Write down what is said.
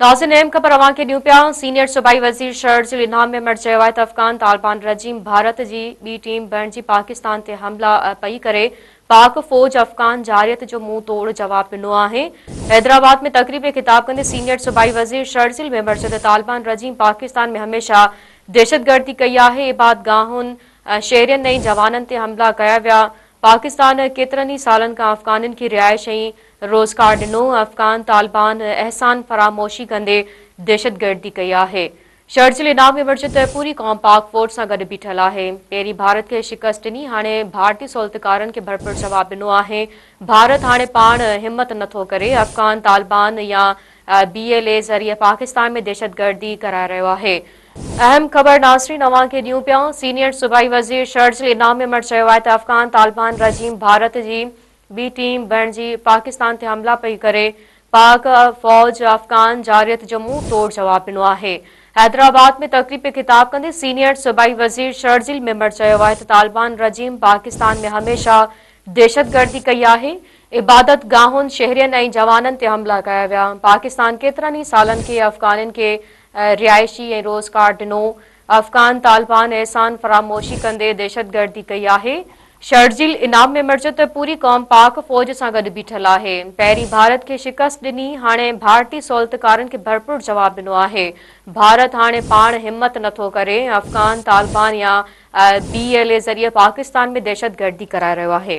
ناظرين اهم خبر اوهان کي ڏيون پيا سينيئر صوبائي وزير شرڙ ضلعي نام ميمڻ چيو آهي ته افغان طالبان رجيم ڀارت جي ٻي ٽيم بڻجي پاڪستان تي حملا پئي ڪري پاڪ فوج افغان جارحيت جو منهن توڙ جواب ڏنو آهي حيدرآباد ۾ تقريب کي خطاب ڪندي سينيئر صوبائي وزير شرڙ ضلعي ميمڻ چيو ته طالبان رجيم پاڪستان ۾ هميشه دهشت گردي ڪئي آهي عباد گاهن شهرين ۽ جوانن تي حملا ڪيا ويا پاڪستان ڪيترن ئي سالن کان افغانين کي رهائش ۽ روزگار ڏنو، افغان طالبان احسان فراموشي ڪندي دهشتگردي ڪئي آهي. شرجيل ايڏاهه ۾ وٺجي ته پوري قوم پاڪ فوج سان گڏ بيٺل آهي. پهرين ڀارت کي شڪست ڏني، هاڻي ڀارتي سهولتڪارن کي ڀرپور جواب ڏنو آهي. ڀارت هاڻي پاڻ همت نه ٿو ڪري، افغان طالبان يا بي ايل اي ذريعي پاڪستان ۾ دهشتگردي ڪرائي رهيو آهي. اهم خبر ناظرين اوهان کي ڏيون پيا، سينيئر صوبائي وزير شرجيل ايڏاهه ميمڻ چيو آهي ته افغان طالبان رجيم ڀارت جي بي ٽيم بڻجي پاڪستان تي حملا پئي ڪري، پاڪ فوج افغان جارحيت جو منهن ٽوڙ جواب ڏنو آهي. حيدرآباد ۾ تقريب کي خطاب ڪندي سينيئر صوبائي وزير شرجيل ميمڻ چيو آهي ته طالبان رجيم پاڪستان ۾ هميشه دهشتگردي ڪئي آهي، عبادت گاهن، شهرين ۽ جوانن تي حملا ڪيا ويا، پاڪستان ڪيترن ئي سالن کي افغانين کي رهائشي ۽ روزگار ڏنو، افغان طالبان احسان فراموشي ڪندي دهشتگردي ڪئي آهي، شرجيل انعام ۾ مڙجو ته پوري قوم پاڪ فوج سان گڏ بيٺل آهي، پهرين ڀارت کي شڪست ڏني، هاڻي ڀارتي سهولتڪارن کي ڀرپور جواب ڏنو آهي، ڀارت هاڻي پاڻ همت نٿو ڪري، افغان طالبان يا بي ايل اي ذريعي پاڪستان ۾ دهشتگردي ڪرائي رهيو آهي.